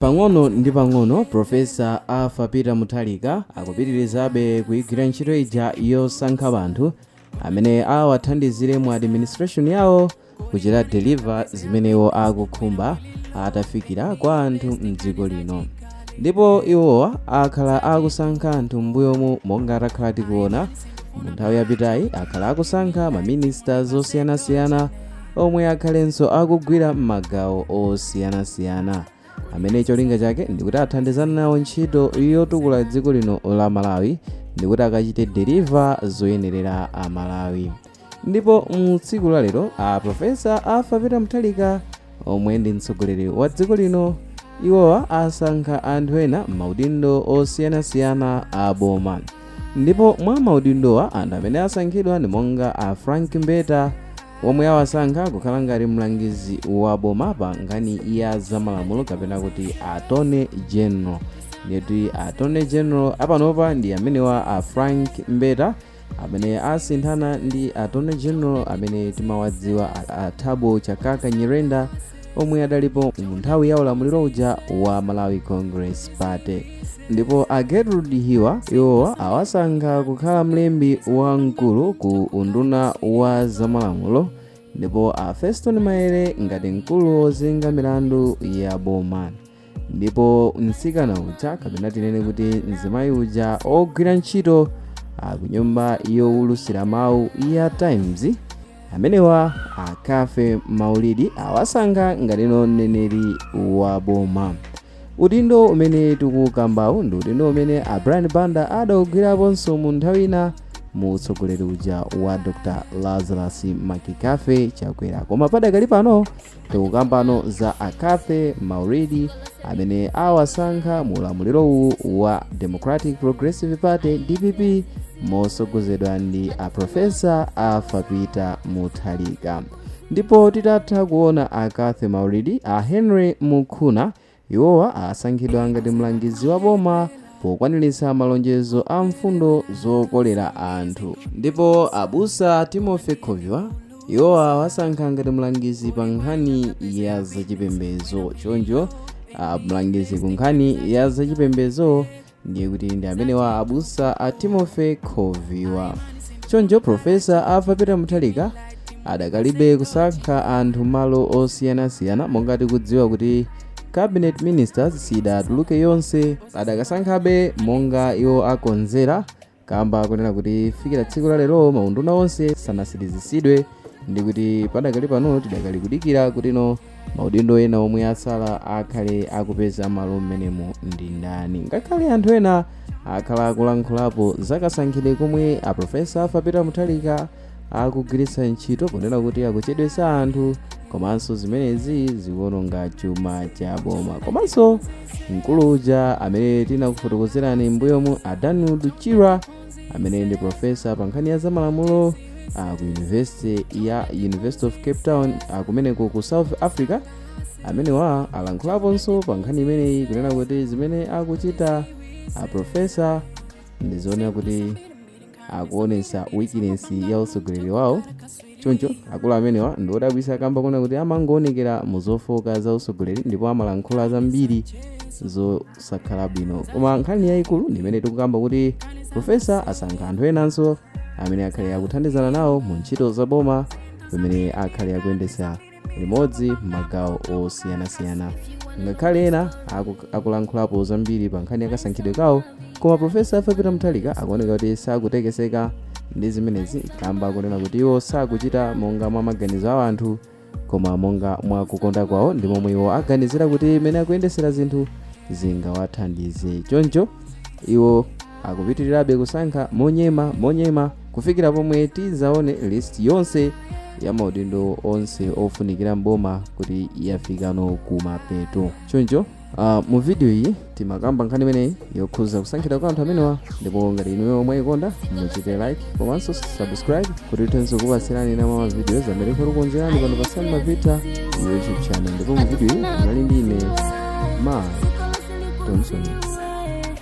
Pang'ono ndi pang'ono, Professor Arthur Peter Mutharika akupitirizabe kuigwira ntchito ija yosankha anthu amene awathandizire mu administration yawo kuchita deliver zimene iwo akukhumba atafikira kwa anthu mdziko lino ndipo iwowa akhala akusankha anthu m'mbuyomu monga takhala tikuona mu nthawi yapitayi akhala akusankha maministers osiyanasiyana omwe akhalenso akugwira m'magawo osiyanasiyana amene cholinga chake ndikuti athandizane nawo ntchito yotukula dziko lino la malawi ndikuti akachite deliver zoyenerera amalawi ndipo mu tsiku la lero a profesa arthur peter mutharika omwe ndi mtsogoleri wa dziko lino iwowa asankha anthu ena m'maudindo osiyanasiyana a boma ndipo mwa maudindowa anthu amene asankhidwa ndi monga a frank mbeta omwe awasankha kukhala ngati mlangizi wa boma pa nkhani ya zamalamulo kapena kuti attorney general ndiyeti attorney general apanopa ndi amenewa a frank mbeta amene asinthana ndi attorney general amene timawadziwa a, a thabo chakaka nyirenda omwe adalipo mu nthawi ya ulamuliro uja wa malawi congress party ndipo a gertrude hiwa iwowa awasankha kukhala mlembi wamkulu ku unduna wa zamalamulo ndipo a fostino maele ngati mkulu wozenga milandu ya boma ndipo mtsikana uja kapena tinene kuti mzimayi uja ogwira ntchito ah, ku nyumba yowulutsira mawu ya times amenewa a cathy maulidi awasankha ngati mneneri wa boma udindo umene tikukambawu ndi udindo umene a brian banda adaugwiraponso mu nthawi ina mu utsogoleri uja wa dr lazarus mccarthy chakwera koma padakali pano tikukambano za a cathy maulidi amene awasankha mu ulamuliro uwu wa democratic progressive party dpp motsogozedwa ndi a profesa arthur peter mutharika ndipo titatha kuona a cathy maulidi a henry mukhuna Iwowa asankhidwa ngati mlangizi wa boma pokwaniritsa malonjezo a mfundo zokolera anthu. Ndipo abusa Timothy Khoviwa, iwowa awasankha ngati mlangizi pa nkhani ya zachipembedzo. Choncho, a mlangizi ku nkhani ya zachipembedzo ndiye kuti ndi amenewa abusa a timothy khoviwa choncho profesa arthur peter mutharika adakalibe kusankha anthu malo osiyanasiyana monga tikudziwa kuti cabinet ministers sidatuluke yonse adakasankhabe monga iwo akonzera kamba konena kuti fikira tsiku la lero maunduna onse sanasirizitsidwe ndi kuti padakali pano tidakali kudikira kutino maudindo ena omwe atsala akhale akupeza malo mmenemo ndi ndani ngakhale anthu ena akhala akulankhulapo zakasankhidwe komwe aprofesa arthur peter mutharika akugwiritsa ntchito ponena kuti akuchedwetsa anthu komanso zimenezi zikuononga chuma cha boma komanso mkulu uja amene tinakufotokozerani mbuyomu a danwood chirwa amene ndi profesa pa nkhani ya zamalamulo ah, ku university ya university of cape town ah, kumeneko ku south africa amenewa alankhulaponso pa nkhani imeneyi kunena kuti zimene akuchita a profesa ndizoonera kuti akuonesa weakness ya utsogoleri wawo choncho akulu amenewa ndi odabwisa kamba konena kuti amangoonekera mu zofooka za utsogoleri ndipo amalankhula zambiri zosakhala bwino koma nkhani yayikulu ndi imene tikukamba kuti profesa asankha anthu enanso amene akhale akuthandizana nawo mu ntchito za boma pamene akhale akuyendesa limodzi m'magawo osiyanasiyana ngakhale ena aku- akulankhulapo zambiri pa nkhani yakasankhidwe kawo koma profesa arthur peter mutharika akuoneka kuti sakutekeseka ndi zimenezi kamba kunena kuti iwo sakuchita monga mwa maganizo a anthu koma monga mwa kukonda kwawo ndi momwe iwo aganizira kuti imene akuyendesera zinthu zingawathandize choncho iwo akupitirirabe kusankha monyema monyema kufikira pomwe tidzaone list yonse ya maudindo onse ofunikira mboma kuti yafikano kumapeto choncho Uh, mu video iyi timakamba nkhani imeneyi yokhuza kusankhidwa kwa anthu amenewa ndipo ngati inuyo mwayikonda muchite like komanso subscribe kuti tithenso kupatsirani ena mwa ma videos amene tikukonzerani pano pasani mavita youtube channel ndipo mu video iyi munali ndi ine ma thompson